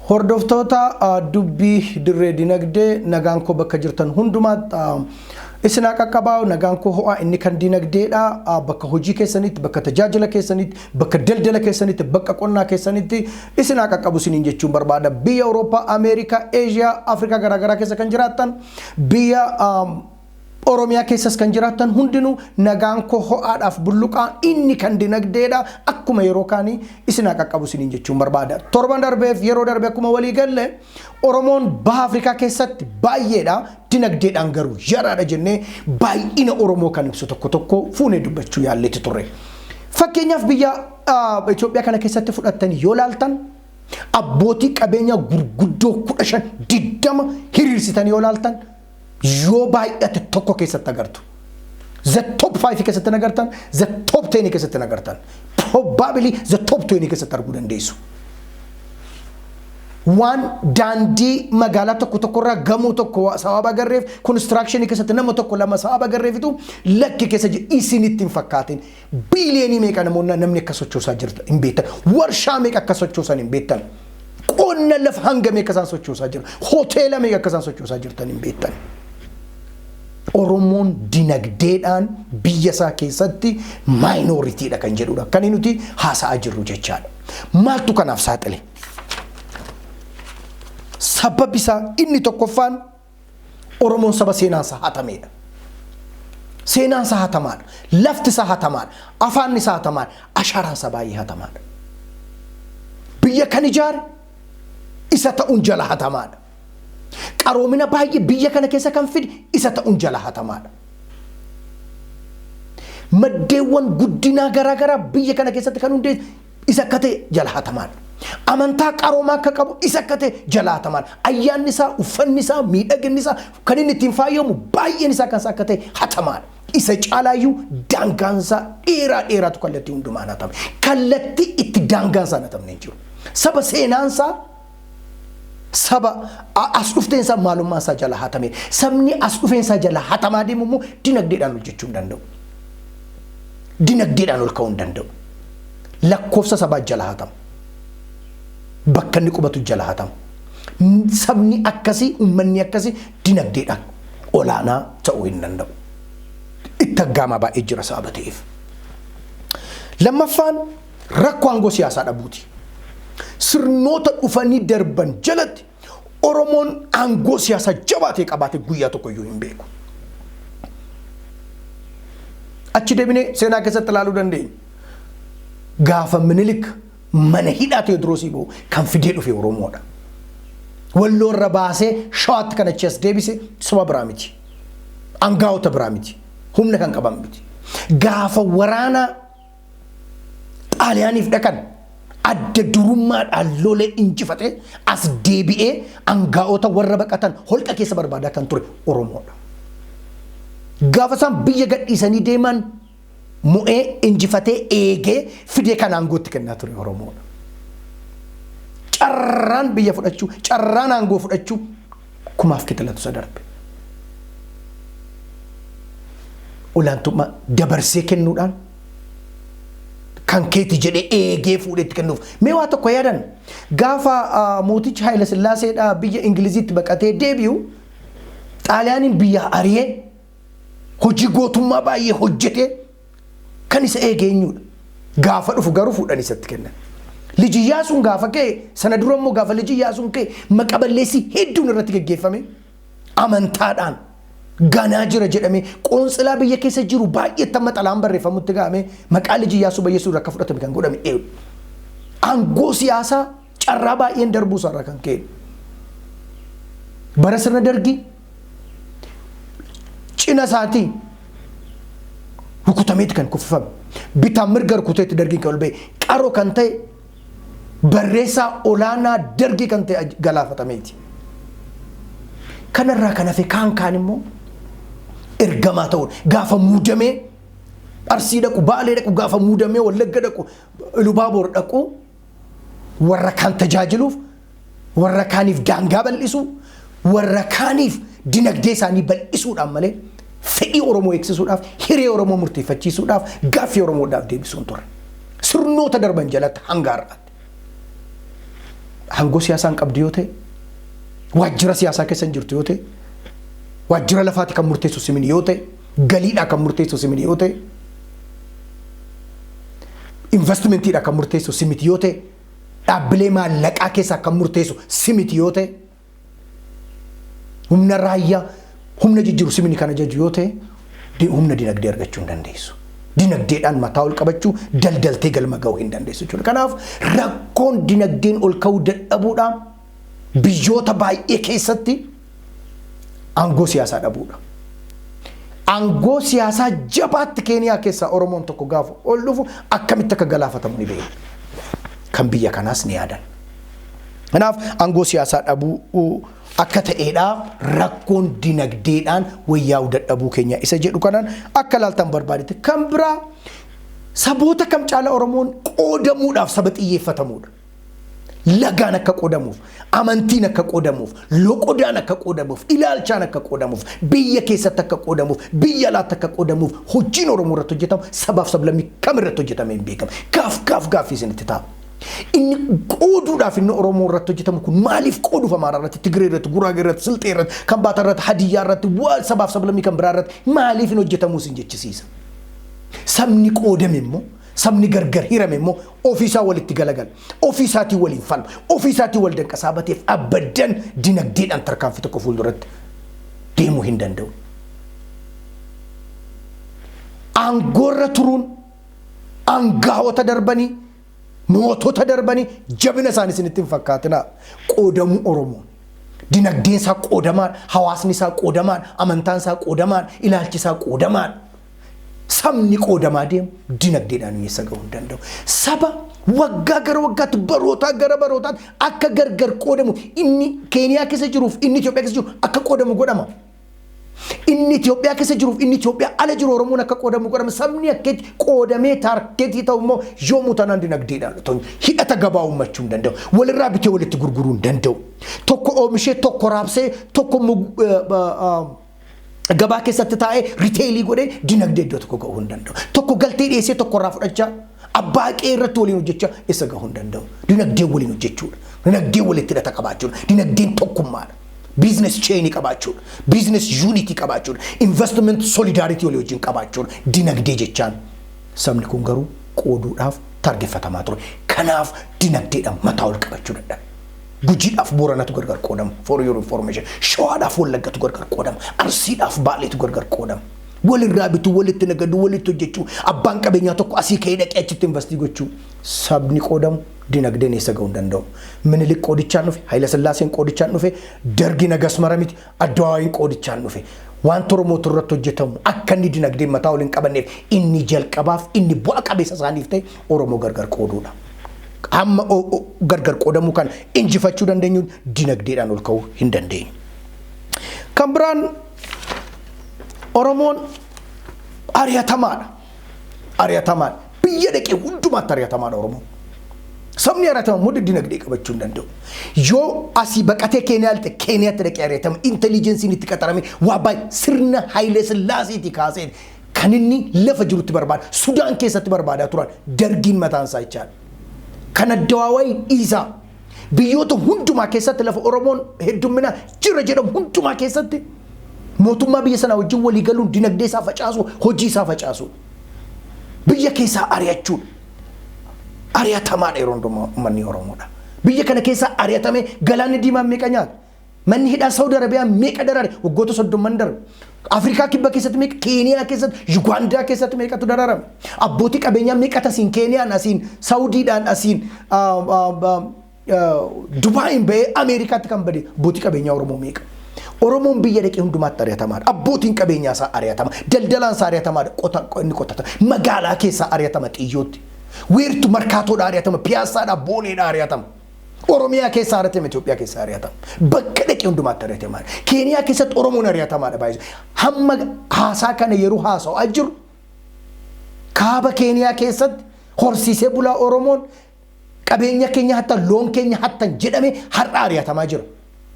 Hordoftoota dubbii dirree dinagdee nagaan koo bakka jirtan hundumaatti isin haa qaqqabaa nagaan koo ho'aa inni kan dinagdeedha bakka hojii keessanitti bakka tajaajila keessanitti bakka daldala keessanitti bakka qonnaa keessanitti isin haa qaqqabu isiniin jechuun barbaada biyya Awurooppaa Ameerikaa Eeshiyaa Afrikaa garaagaraa keessa kan jiraattan biyya Oromiyaa keessas kan jiraattan hundinuu nagaan koo ho'aadhaaf bulluqaa inni kan dinagdeedha akkuma yeroo kaanii isin haa qaqqabu isiniin jechuun barbaada. Torban darbeef yeroo darbe akkuma walii galle Oromoon baha Afrikaa keessatti baay'eedha dinagdeedhaan garuu yaraadha jennee baay'ina Oromoo kan ibsu tokko tokko fuunee dubbachuu yaalleetti turre. Fakkeenyaaf biyya Itoophiyaa kana keessatti fudhattanii yoo laaltan abbootii qabeenyaa gurguddoo kudha shan digdama hiriirsitanii yoo laaltan yoo baay'ate tokko keessatti agartu. The top 5 keessatti hin agartan, the top 10 keessatti hin agartan. Probably the top 20 keessatti arguu dandeessu. Waan daandii magaalaa tokko tokkorraa gamoo tokko sababa agarreef konistiraakshanii keessatti nama tokko lama sababa agarreefitu lakki keessa jiru isinitti hin fakkaatin. Biiliyoonii meeqa namoonni namni akka sochoosaa jirtu hin beektan. Warshaa meeqa akka sochoosan hin beektan. Qonna lafa hanga meeqa isaan sochoosaa jiru. Hoteela meeqa akka isaan sochoosaa jirtan hin beektan. Oromoon dinagdeedhaan biyya isaa keessatti maayinooritiidha kan jedhudha. Kan nuti haasa'aa jirru jechaadha. Maaltu kanaaf saaxile? Sababni isaa inni tokkoffaan Oromoon saba seenaan isaa hatameedha. Seenaan isaa hatamaadha. Lafti isaa hatamaadha. Afaanni isaa hatamaadha. Ashaaraan isaa baay'ee hatamaadha. Biyya kan ijaare isa ta'uun jala hatamaadha. Qaroomina baay'ee biyya kana keessa kan fide isa ta'uun jala hatamaadha. Maddeewwan guddinaa garaagaraa biyya kana keessatti kan hundeesse isa akka ta'e jalaatamaan. Amantaa qaroomaa akka qabu isa akka ta'e jalaatamaan. Ayyaanni isaa, uffanni isaa, miidhaginni isaa kan inni ittiin faayamu baay'een isaa kan isaa akka ta'e hatamaan. Isa caalaayyuu daangaan isaa dheeraa dheeraatu kallattii hundumaan hatame. Kallattii itti daangaan isaa hin hatamne hin jiru. Saba seenaan isaa saba a- as dhufteen isaa maalummaan isaa jala hatame sabni as dhufeen isaa jala hatamaa deemu immoo dinagdeedhaan hojjechuu hin danda'u dinagdeedhaan ol ka'uu hin danda'u lakkoofsa sabaa jala hatama bakka inni qubatu jala hatama N- sabni akkasii uummanni akkasii dinagdeedhaan olaanaa ta'uu hin danda'u itti aggaamaa baay'ee jira sababa ta'eef lammaffaan Rakkoo aangoo siyaasaa dhabuuti. Sirnoota dhufanii darban jalatti Oromoon aangoo siyaasaa jabaa ta'e qabaate guyyaa tokko iyyuu hin beeku. Achi deebinee seenaa keessatti ilaaluu dandeenya. Gaafa minilik mana hidhaa Tewoodiroos Iboo kan fidee dhufe Oromoodha. Walloo irra baasee shawaatti kan achi as deebise saba biraa miti. Angaa'ota biraa miti. Humna kan qaban miti. Gaafa waraanaa Xaaliyaaniif dhaqan adda durummaadhaan lolee injifatee as deebi'ee angaa'ota warra baqatan holqa keessa barbaadaa kan ture Oromoodha. Gaafa isaan biyya gadhiisanii deeman mo'ee injifatee eegee fidee kan aangootti kennaa ture Oromoodha. Carraan biyya fudhachuu, carraan aangoo fudhachuu Kumaaf kixilatu isa darbe. Olaantummaa dabarsee kennuudhaan kan keeti jedhee eegee fuudhee itti kennuuf. Mee waa tokko yaadan gaafa ah, mootichi Haayila Sillaaseedhaa biyya Ingiliziitti baqatee deebi'u Xaaliyaaniin biyyaa ari'ee hojii gootummaa baay'ee hojjetee Kan isa eege eenyuudha? Gaafa dhufu garuu fuudhan isatti kennan. Liji Iyyaasuun gaafa ka'e sana dura immoo gaafa liji Iyyaasuun ka'e maqa balleessii hedduun irratti geggeeffame amantaadhaan ganaa jira jedhamee qoonsilaa biyya keessa jiru baay'eetti amma xalaan barreeffamutti ga'amee maqaa liji Iyyaasuu balleessuu irra akka fudhatame kan godhame eewu. Aangoo siyaasaa carraa baay'een darbuu isaarraa kan ka'e. Bara sirna dargii cina isaatii rukutameeti kan kuffifame bitaan mirga rukuteetti dargiin kan ol ba'e qaro kan ta'e barreessaa olaanaa dargii kan ta'e galaafatameeti. Kanarraa kan hafe kaan kaan immoo ergamaa ta'uun gaafa muudamee arsii dhaqu baalee dhaqu gaafa muudamee wallagga dhaqu ilubaaboor dhaqu warra kaan tajaajiluuf warra kaaniif daangaa bal'isuu warra kaaniif dinagdee isaanii bal'isuudhaan malee fedhii Oromoo eegsisuudhaaf hiree Oromoo murteeffachiisuudhaaf gaaffii Oromoodhaaf deebisuun ture. Sirnoota darban jalatti hanga har'aatti. Hangoo siyaasaa hin qabdu yoo ta'e waajjira siyaasaa keessa hin jirtu yoo ta'e waajjira lafaati kan murteessu simin yoo ta'e Galiidhaa kan murteessu si miti yoo ta'e, investmentiidhaa kan murteessu si miti yoo ta'e, dhaabbilee maallaqaa keessaa kan murteessu si miti yoo ta'e, humna raayyaa humna jijjiiru si miti kan ajaju yoo ta'e, humna dinagdee argachuu hin dandeessu. Dinagdeedhaan mataa ol qabachuu daldaltee galma ga'uu hin dandeessu jechuudha. Kanaaf rakkoon dinagdeen ol ka'uu dadhabuudhaa biyyoota baay'ee keessatti aangoo siyaasaa dhabuudha. Aangoo siyaasaa jabaatti Keeniyaa keessaa Oromoon tokko gaafa ol dhufu akkamitti akka galaafatamu ni beeku. Kan biyya kanaas ni yaadan. Kanaaf aangoo siyaasaa dhabuu akka ta'eedha rakkoon dinagdeedhaan wayyaa'uu dadhabuu keenya isa jedhu kanaan akka laaltan barbaadetti kan biraa saboota kam caala Oromoon qoodamuudhaaf saba xiyyeeffatamuudha. Lagaan akka qoodamuuf, amantiin akka qoodamuuf, loqodaan akka qoodamuuf, ilaalchaan akka qoodamuuf, biyya keessatti akka qoodamuuf, biyya alaatti akka qoodamuuf hojiin Oromoo irratti hojjetamu sabaaf sablammii kam irratti hojjetamee hin beekamu. Gaaf gaaf gaaffii isinitti ta'a. Inni qooduudhaaf inni Oromoo irratti hojjetamu kun maaliif qooduuf Amaaraa irratti, Tigree irratti, Guraagee irratti, Silxee irratti, Kambaataa irratti, Hadiyyaa irratti, waa sabaaf sablammii kan biraa irratti maaliif hin hojjetamuu isin jechisiisa. Sabni qoodame immoo, sabni gargar hirame immoo ofii isaa walitti galagala, ofii isaatiin waliin falma, ofii isaatiin wal danqasaa bateef abaddan dinagdeedhaan tarkaanfii tokko fuulduratti deemuu hin danda'u. Aangoorra turuun aangaawota darbanii mootota darbanii jabina isaanii isinitti hin fakkaatinaa qoodamuu Oromoon. Dinagdeen isaa qoodamaadha, hawaasni isaa qoodamaadha, amantaan isaa qoodamaadha, ilaalchi isaa qoodamaadha. sabni qoodamaa deemu dinagdeedhaan hiyyeessa ga'uu hin danda'u. Saba waggaa gara waggaatti barootaa gara barootaatti akka gargar qoodamu inni Keeniyaa keessa jiruuf inni Itoophiyaa keessa jiru akka qoodamu godhama. Inni Itoophiyaa keessa jiruuf inni Itoophiyaa ala jiru Oromoon akka qoodamu godhama. Sabni akkeetti qoodamee taarkeetii ta'u immoo yoomuu tanaan dinagdeedhaan otoo hidhata gabaa uummachuu hin danda'u. Walirraa bitee walitti gurguruu hin danda'u. Tokko oomishee tokko raabsee tokko gabaa keessatti taa'ee riteelii godhee dinagdee iddoo tokko ga'uu hin danda'u. Tokko galtee dhiyeessee tokko irraa fudhachaa abbaa qe'ee irratti waliin hojjechaa isa ga'uu hin danda'u. Dinagdee waliin hojjechuudha. Dinagdee walitti hidhata qabaachuudha. Dinagdeen tokkummaadha. Biizines cheenii qabaachuudha. Biizines yuunitii qabaachuudha. Investment solidaaritii walii wajjin qabaachuudha. Dinagdee jechaan sabni kun garuu qooduudhaaf targeffatamaa ture. Kanaaf dinagdeedhaan mataa ol qabachuu dadhabe. Gujiidhaaf Booranatu gargar qoodama for your information. Shawaadhaaf Wallaggatu gargar qoodama. Arsiidhaaf Baaleetu gargar qoodama. Walirraa bituu, walitti nagaduu, walitti hojjechuu, abbaan qabeenyaa tokko asii ka'ee dhaqee achitti investii gochuu. Sabni qoodamu dinagdeen eessa ga'uu hin danda'u. Minilik qoodichaan dhufe, Hayila Sillaaseen qoodichaan dhufe, Dargi nagas mara miti, Addawaawii qoodichaan dhufe wanta Oromootu irratti hojjetamu akka inni dinagdeen mataa ol hin qabanneef inni jalqabaaf inni bu'a qabeessa isaaniif ta'e Oromoo gargar qooduudha. Amma o- o- gargar qoodamuu kana injifachuu dandeenyu dinagdeedhaan ol ka'uu hin dandeenyu. Kan biraan Oromoon ari'atamaadha. Ari'atamaan biyya dhaqee hundumaatti ari'atamaadha Oromoo. Sabni ari'atama immoo dinagdee qabachuu hin danda'u. Yoo asii baqatee Keeniyaa lixee Keeniyaatti dhaqee ari'atama intelijensiin itti qaxarame waa baay'ee sirna Hayilee Sillaaseetii kaaseen kan inni lafa jirutti barbaada. Sudaan keessatti barbaadaa turan dargiin mataan isaa jechaadha. Kan addawaawaayi dhiisaa. biyyoota hundumaa keessatti lafa Oromoon heddumminaa jira jedhamu hundumaa keessatti mootummaa biyya sanaa wajjin walii galuun dinagdee isaa facaasuu, hojii isaa facaasuu, biyya keessaa ari'achuun ari'atamaadha yeroo hundumaa uummanni Oromoodha. Biyya kana keessaa ari'atamee galaanni diimaan meeqa nyaata? Manni hidhaa Saudi Arabiyaa meeqa daraare waggoota soddomman darbe. Afrikaa kibba keessatti meeqa, Keeniyaa keessatti, Yugaandaa keessatti meeqatu daraarame. Abbootii qabeenyaa meeqatu asiin Keeniyaan asiin Saudiidhaan asiin Dubaayiin bahee Ameerikaatti kan bade abbootii qabeenyaa Oromoo meeqa. Oromoon biyya dhaqee hundumaatti ari'atamaadha. Abbootiin qabeenyaa isaa ari'atama. Daldalaan isaa ari'atamaadha. Qota inni qotata. Magaalaa keessaa ari'atama xiyyootti. Weertu markaatoodha ari'atama. Piyaassaadha booneedha ari'atama. Oromiyaa keessa haratame Itoophiyaa keessa ari'atama. Bakka dhaqe hundumaatti ari'atama. Keeniyaa keessatti Oromoon ari'atamaadha baay'ee. Hamma haasaa kana yeroo haasa'aa jiru kaaba Keeniyaa keessatti horsiisee bulaa Oromoon qabeenya keenya hattan loon keenya hattan jedhame har'a ari'atamaa jira.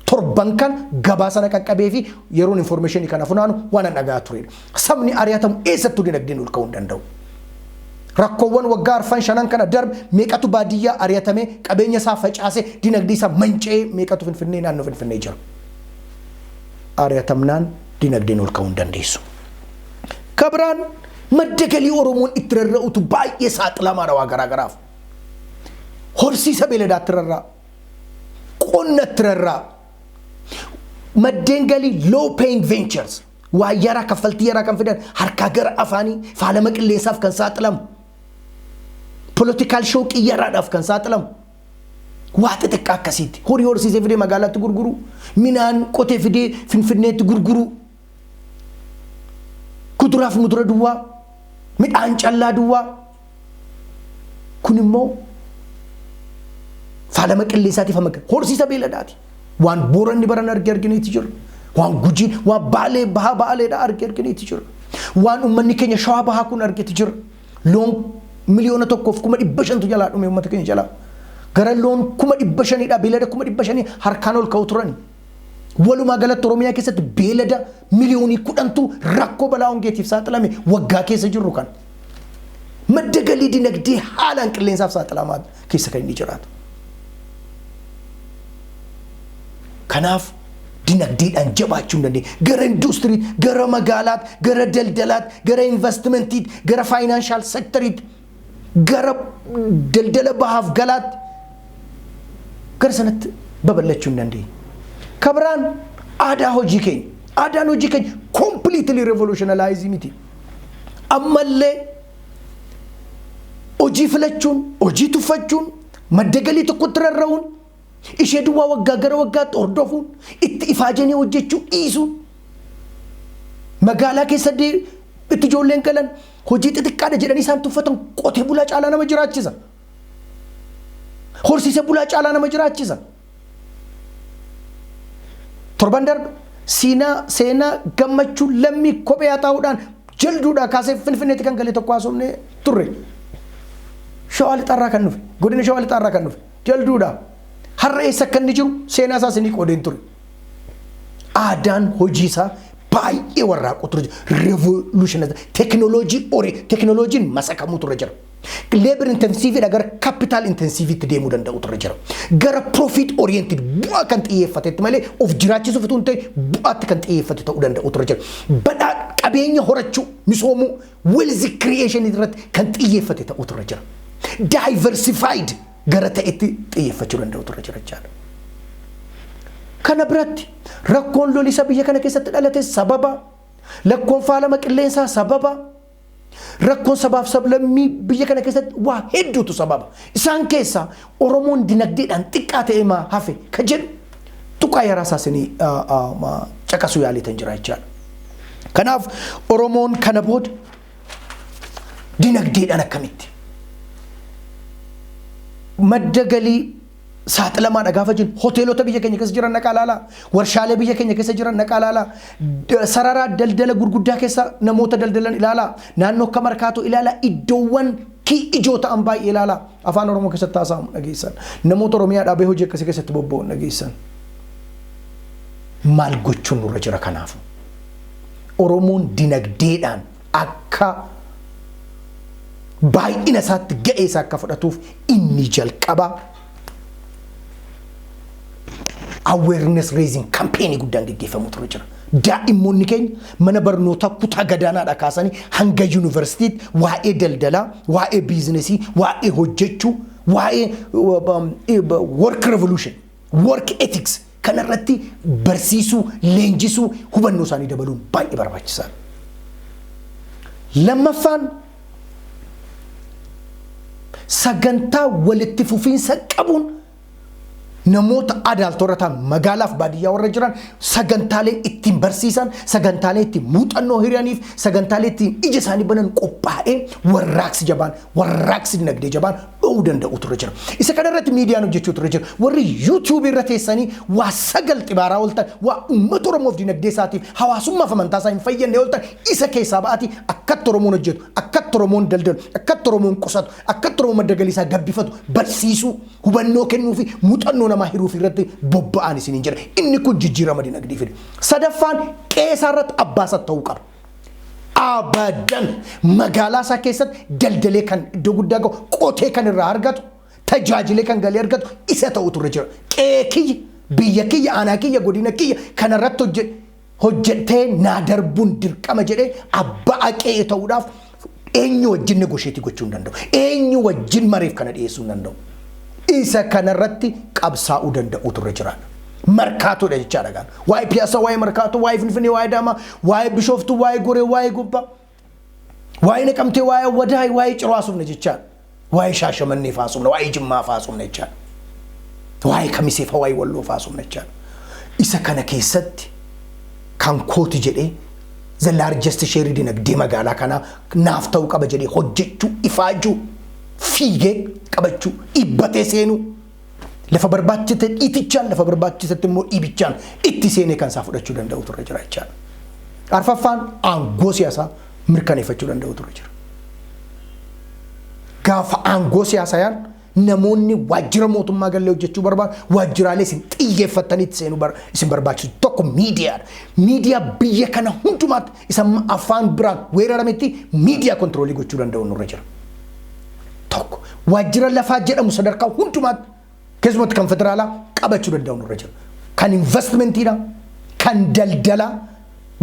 Torban kana gabaasa na qaqqabee fi yeroon information kana funaanu waan an dhaga'aa turedha. Sabni ari'atamu eessattuu dinagdeen ol ka'uu hin danda'u. Rakkoowwan waggaa arfan shanan kana darbe meeqatu baadiyyaa ari'atamee qabeenya isaa facaasee dinagdee isaa manca'ee meeqatu Finfinnee naannoo Finfinnee jira. Ari'atamnaan dinagdeen ol ka'uu hin dandeessu. Ka biraan madda galii Oromoon itti rarra'utu baay'ee saaxilamaadha waa garaa garaaf. Horsiisa beeladaatti rarra'a. qonna itti rarraa'u, maddeen galii low paying ventures, waa yaraa kaffaltii yaraa kan fidan harkaa gara afaanii faalama qilleensaaf kan saaxilamu, political shockii yaraadhaaf kan saaxilamu, waa xixiqqaa akkasiitti horii horsiisee fidee magaalaatti gurguruu, minaan qotee fidee finfinneetti gurguruu, Kuduraaf mudura duwwaa, midhaan callaa duwwaa. Kun immoo faalama qilleensaatiif amma gahe. Horsiisa beeladaati. Waan booranni baran arge argineeti jiru. Waan gujiin, waan baalee bahaa baaleedha arge argineeti jiru. Waan uummanni keenya shawaa bahaa kun argeeti jiru. Loon miliyoona tokkoof kuma dhibba shantu jalaa dhume uummata keenya jalaa. Gara loon kuma dhibba shaniidha beelada kuma dhibba shanii harkaan ol ka'u turani. Walumaa galatti Oromiyaa keessatti beelada miliyoonii kudhantu rakkoo balaa hongeetiif saaxilame waggaa keessa jirru kan. Madda galii dinagdee haalaan qilleensaaf saaxilamaa keessa kan inni jiraatu. Kanaaf dinagdeedhaan jabaachuu hin dandeenye. Gara induustirii, gara magaalaatti, gara daldalaatti, gara investimentiitti, gara faayinaanshaal sektariitti gara daldala bahaaf galaatti gara sanatti babal'achuu hin dandeenye. Ka biraan aadaa hojii keenya. Aadaan hojii keenya completely revolutionalized miti. Ammallee hojii filachuun, hojii tuffachuun, madda galii tokkotti rarra'uun, ishee duwwaa waggaa gara waggaatti hordofuun, itti ifaajanii hojjechuu dhiisuun, magaalaa keessa dee- itti ijoolleen galan Hojii xixiqqaadha jedhanii isaan tuffatan qotee bulaa caalaa nama jiraachisa. Horsiisee bulaa caalaa nama jiraachisa. Torban darbe siinaa seenaa gammachuu lammii kophee haxaa'uudhaan jalduudhaa kaasee finfinneetti kan gale tokko haasofnee turre. Shawaa lixaarraa kan dhufe godina shawaa lixaarraa kan dhufe jalduudhaa har'a eessa akka inni jiru seenaa isaas ni qoodeen ture. aadaan hojii isaa baay'ee warraaquutu irra jira. Revolutionized tekinooloojii ore tekinooloojiin masakamuutu irra jira. Labor intensiiviidha gara capital intensiiviitti deemuu danda'uutu irra jira. Gara profit oriented bu'aa kan xiyyeeffatetti malee of jiraachisuuf utuu hin ta'in bu'aatti kan xiyyeeffate ta'uu danda'uutu irra jira. Badhaa qabeenya horachuu misoomuu wealth creation irratti kan xiyyeeffate ta'uutu irra jira. Diversified gara ta'etti xiyyeeffachuu danda'utu irra jira jechaadha. Kana biratti rakkoon lolisa biyya kana keessatti dhalate sababa, lakkoon faalama qilleensaa sababa, rakkoon sabaaf sablammii biyya kana keessatti waa hedduutu sababa. Isaan keessaa Oromoon dinagdeedhaan xiqqaa ta'ee maa hafe ka jedhu tuqaa yaraa isaa isinii caqasuu yaaliitan jira jechaadha. Kanaaf Oromoon kana booda dinagdeedhaan akkamitti madda galii saaxilamaadha gaafa jennu hoteelota biyya keenya keessa jiran naqaa laalaa warshaalee biyya keenya keessa jiran naqaa laalaa d- sarara daldala gurguddaa keessa namoota daldalan ilaalaa naannoo akka markaatoo ilaalaa iddoowwan kii ijoo ta'an baay'ee ilaalaa afaan oromoo keessatti haasa'amu dhageessan namoota oromiyaa dhaabee hojii akkasii keessatti bobba'u dhageessan maal gochuun nurra jira kanaafu Oromoon dinagdeedhaan akka baay'ina isaatti ga'ee isaa akka fudhatuuf inni jalqaba awareness raising campaign guddaan geggeeffamu ture jira. Daa'immoonni keenya mana barnootaa kutaa gadaanaadha kaasanii hanga yuunivarsiitiitti waa'ee daldalaa, waa'ee biizinesii, waa'ee hojjechuu, waa'ee work revolution, work ethics Kana irratti barsiisuu, leenjisuu, hubannoo isaanii dabaluun baay'ee barbaachisaadha. Lammaffaan sagantaa walitti fufiinsa qabuun namoota adaaltoorra ta'an magaalaaf baadiyyaa warra jiran sagantaalee ittiin barsiisan, sagantaalee ittiin muuxannoo hiraniif, sagantaalee ittiin ija isaanii banan qophaa'ee warraaqsi jabaan, warraaqsi dinagdee jabaan dho'uu danda'utu irra jira. Isa kana irratti miidiyaan hojjechuutu irra jira. Warri yuutuubii irra teessanii waa sagal xibaaraa ooltan, waa uummata Oromoof dinagdee isaatiif, hawaasummaaf amantaa isaa hin fayyadne ooltan isa keessaa ba'aati akkatti Oromoon hojjetu, akkatti Oromoon daldalu, akkatti Oromoon qusatu, akkatti Oromoon madda galii isaa gabbifatu barsiisuu, hubannoo kennuu fi muuxannoo namaa hiruuf irratti bobba'aan isiniin jedha. Inni kun jijjiirama dinagdee fida. Sadaffaan qe'ee isaa irratti abbaa isaa ta'uu qaba. abadan magaalaa isaa keessatti daldalee kan iddoo guddaa qabu qotee kan irraa argatu tajaajilee kan galii argatu isa ta'u turre jira qe'ee kiyya biyya kiyya aanaa kiyya godina kiyya kanarratti hojjedhe hojjettee naa darbuun dirqama jedhee abbaa qe'ee ta'uudhaaf Eenyu wajjin negosheetii gochuu hin danda'u. Eenyu wajjin mareef kana dhiyeessuu hin danda'u. Isa kanarratti qabsaa'uu danda'uutu irra jira. Markaatoodha jechaadha gaana. Waa'ee piyaasaa, waa'ee markaatoo, waa'ee finfinnee, waa'ee daamaa, waa'ee bishooftuu, waa'ee goree, waa'ee gubbaa, waa'ee naqamtee, waa'ee awwadaay, waa'ee ciroo haasofna jechaadha. Waa'ee Shaashamannee fa'aa haasofna, waa'ee Jimmaa fa'aa haasofna jechaadha. Waa'ee Kamisee fa'aa, waa'ee Walloo fa'aa haasofna jechaadha. Isa kana keessatti kan kooti jedhee the largest share dinagdee magaalaa kanaa naaf ta'uu qaba jedhee hojjechuu, ifaajuu, fiigee qabachuu, dhibbatee seenuu. Lafa barbaachise dhiitichaan lafa barbaachisetti immoo dhiibichaan itti seenee kan isaa fudhachuu danda'u turre jira jechaadha. Arfaffaan aangoo siyaasaa mirkaneeffachuu danda'u turre jira. Gaafa aangoo siyaasaa yaan namoonni waajjira mootummaa gallee hojjechuu barbaadan waajjiraalee isin xiyyeeffattanii itti seenuu bar- isin barbaachisu tokko miidiyaadha. Miidiyaa biyya kana hundumaatti isa amma afaan biraan weerarametti miidiyaa kontiroolii gochuu danda'u nurra jira. tokko waajjira lafaa jedhamu sadarkaa hundumaatti keessumatti kan federaalaa qabachuu danda'u nurra jira. Kan investmentiidha, kan daldala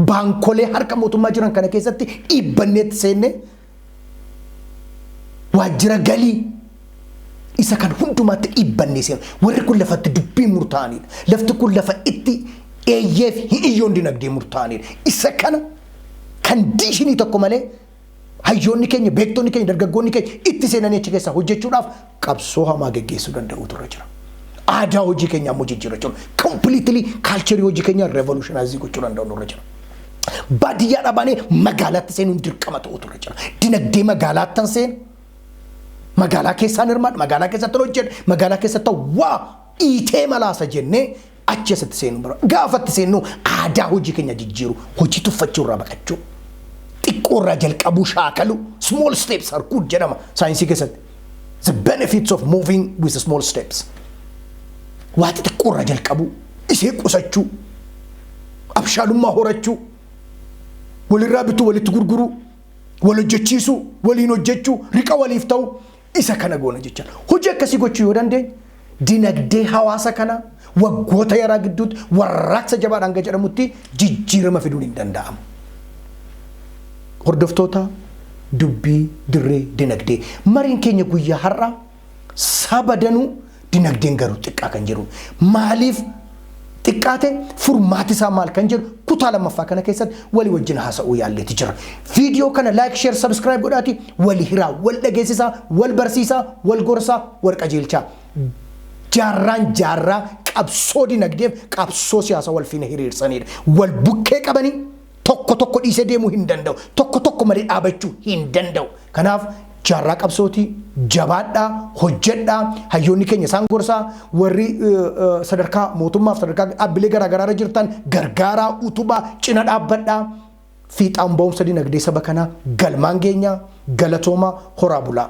baankolee harka mootummaa jiran kana keessatti dhiibbanneetti seennee waajjira galii isa kan hundumaatti dhiibbannee seenu warri kun lafatti dubbii murtaa'anidha. Lafti kun lafa itti eeyyeef hiyyoon dinagdee murtaa'anidha. Isa kana kan diishinii tokko malee hayyoonni keenya, beektonni keenya, dargaggoonni keenya itti seenanii achi keessaa hojjechuudhaaf qabsoo hamaa geggeessuu danda'uutu irra jira. Aadaa hojii keenya ammoo jijjiirrachuun kompiliitilii kaalcherii hojii keenya reevolushinaayizii gochuu danda'u irra jira. Baadiyyaa dhabaanee magaalaatti seenuun dirqama ta'uutu irra jira. Dinagdee magaalaattan seenu magaalaa keessaan hirmaadha, magaalaa keessatti hojjedha, magaalaa keessatti waa dhiitee malaasa jennee achi asitti seenuu bara gaafatti seennuu aadaa hojii keenya jijjiiru hojii tuffachuu irraa baqachuu xiqqoo irraa jalqabuu shaakalu small steps are good jedhama saayinsii keessatti the benefits of moving with small steps waa xixiqqoo irraa jalqabuu isee qusachuu abshaalummaa horachuu walirraa bituu walitti gurguruu wal hojjechiisuu waliin hojjechuu riqa waliif ta'u Isa kana goona jechaan hojii akkasii gochuu yoo dandeenye dinagdee hawaasa kanaa waggoota yaraa gidduutti warraaqsa jabaadhaan hanga jedhamutti jijjiirama fiduun hin danda'amu. Hordoftoota dubbii dirree dinagdee mariin keenya guyyaa har'aa saba danuu Dinagdeen garuu xiqqaa kan jedhu maaliif xiqqaate furmaati isaa maal kan jedhu kutaa lammaffaa kana keessatti walii wajjin haasa'uu yaalleeti jira. Viidiyoo kana like, share, subscribe godhaati wali hiraa, wal dhageessisaa, wal barsiisaa, wal gorsaa, wal qajeelchaa. Jaarraan jaarraa qabsoo dinagdeef qabsoo siyaasa wal fiina hiriirsanidha. Wal bukkee qabanii Tokko tokko dhiisee deemuu hin danda'u. Tokko tokko malee dhaabachuu hin danda'u. Kanaaf jaarraa qabsooti jabaadhaa hojjedhaa hayyoonni keenya isaan gorsaa warri sadarkaa mootummaaf sadarkaa dhaabbilee garaagaraarra jirtan gargaaraa utubaa cina dhaabbadhaa fiixaan ba'umsa dinagdee saba kanaa galmaan geenyaa galatoomaa horaa bulaa.